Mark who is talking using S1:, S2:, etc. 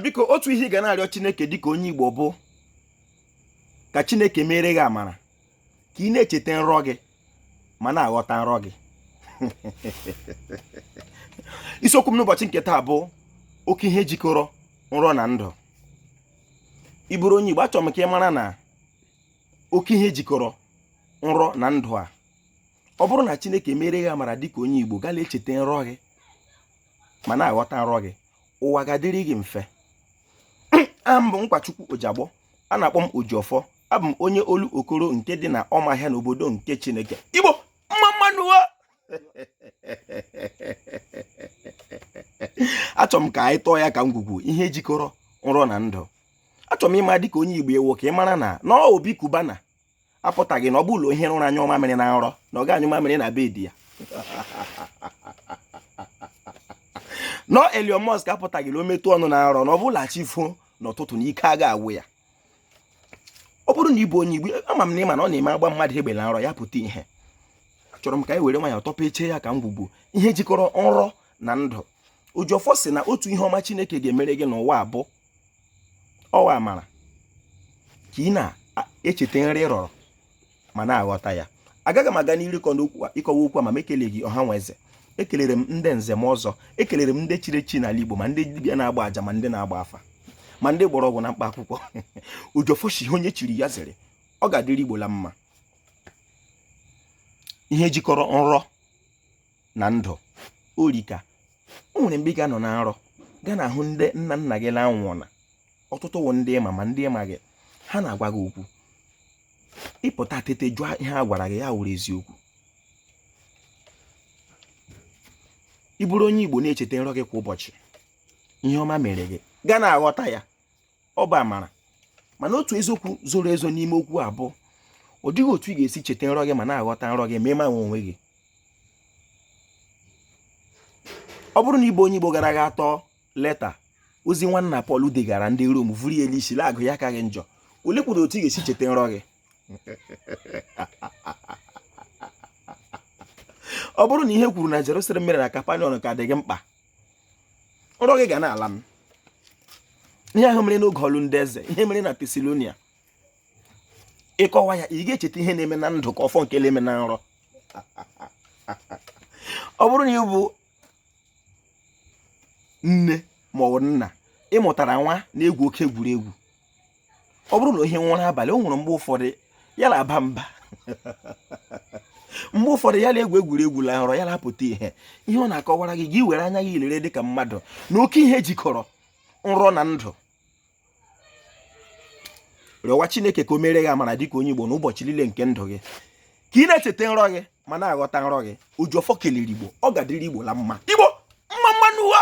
S1: biko otu ihe ị ga na-arịọ chineke dịka onye igbo bụ ka chineke meere gị amara ka ị na-echeta nrọ gị ma na-aghọta nrọ gị isiokwu m n'ụbọchị nke taa bụ oke ihe jikọrọ nrọ na ndụ ị bụrụ onye Igbo achọrọ m ka ị mara na oke ihe jikọrọ nrọ na ndụ a ọ bụrụ na Chineke meere gị amara dịka onye Igbo gala echeta nrọ gị ma na-aghọta nrọ gị ụwa ga-adịrị gị mfe aha m bụ Nkwachukwu Ojiagbọ a na-akpọ m Ojiọfọ abụ m onye Olokoro nke dị na Ọmahịa n'obodo nke Chineke Igbo mma mma nụ achọrọ m ka anyị tọọ ya ka ngwugwu ihe jikọrọ nrọ na ndụ achọrọ m ịma dịka onye Igbo ị wụ ka ị mara na na ọ Obi Cubana apụtaghị na ọ bụ la o hie ụra nyụọ mamịrị na nrọ na ọ ga-anyụ mamịrị na bed ya na ọ Elon Musk apụtaghị na o metụ ọnụ na nrọ na ọ bụ la chi fo n'ụtụtụ na ike aga agwụ ya ọ bụrụ na ị bụ onye igbo ama m na ị ma na ọ na-eme a gbaa mmadụ egbe na nrọ ya pụta ihe achọrọ m ka anyị were nwayọ tọpechaa ya ka ngwugwu ihe jikọrọ nrọ na ndụ Ojiọfọ sị na otu ihe ọma chineke ga-emere gị n'ụwa a bụ ọ wụ amara ka ị na-echeta nrọ ị rọrọ ma na-aghọta ya agaghị m aga n'iru ịkọwa okwu a ma m ekeleghị ọha nwe eze ekelere m ndị nze ma ọzọ ekelere m ndị chiri echi n'ala Igbo ma ndị dibịa na-agba aja ma ndị na-agba afa ma ndị mgbọrọgwụ na mkpa akwụkwọ Ojiọfọ shị ihe onye chiri ya zere ọ ga-adịrị Igbo la mma ihe jikọrọ nrọ na ndụ erika o nwere mgbe ị ga-anọ na nrọ ga na-ahụ ndị nna nna gị na-anwụọna ọtụtụ wụ ndị ị ma ma ndị ị maghị ha na-agwa gị okwu ị pụta tete jụọ ihe a gwara gị ya wụrụ eziokwu ị bụrụ onye Igbo na-echeta nrọ gị kwa ụbọchị ihe ọma mere gị ga na-aghọta ya ọ bụ amara mana otu eziokwu zoro ezo n'ime okwu a bụ ọ dịghị otu ị ga-esi cheta nrọ gị ma na-aghọta nrọ gị ma ị maghị onwe gị ọ bụrụ na ị bụ onye Igbo gara aga atọ leta ozi nwanna Pọl degara ndị Rom vuru ya l'isi la-agụ ya akaghị njọ ole kwuru otu ị ga-esi cheta nrọ gị ọ bụrụ na ihe e kwuru na Jerusalem mere na Kapanọm ka dị gị mkpa nrọ gị ga na-ala m ihe ahụ mere n'oge ọlụ ndị eze ihe mere na Tesalonia ị kọwa ya ị ga-echeta ihe na-eme na ndụ ka ọ fọ nke na-eme na nrọ ọ bụrụ na ị bụ nne ma ọ bụ nna ị mụtara nwa na-egwu oke egwuregwu ọ bụrụ na ihe nwụrụ abalị o nwere mgbe ụfọdụ ya na-aba mba mgbe ụfọdụ ya na-egwu egwuregwu la nrọ ya na-apụta ihe ihe ọ na-akọwara gị gị were anya gị lere dị ka mmadụ na oke ihe jikọrọ nrọ na ndụ rịọwa chineke ka o mere gị amara dịka onye igbo n'ụbọchị niile nke ndụ gị ka ị na-echeta nrọ gị ma na-aghọta nrọ gị ojiọfọ kelere igbo ọ ga-adịrị igbo la mma igbo mma mma nụ ụwa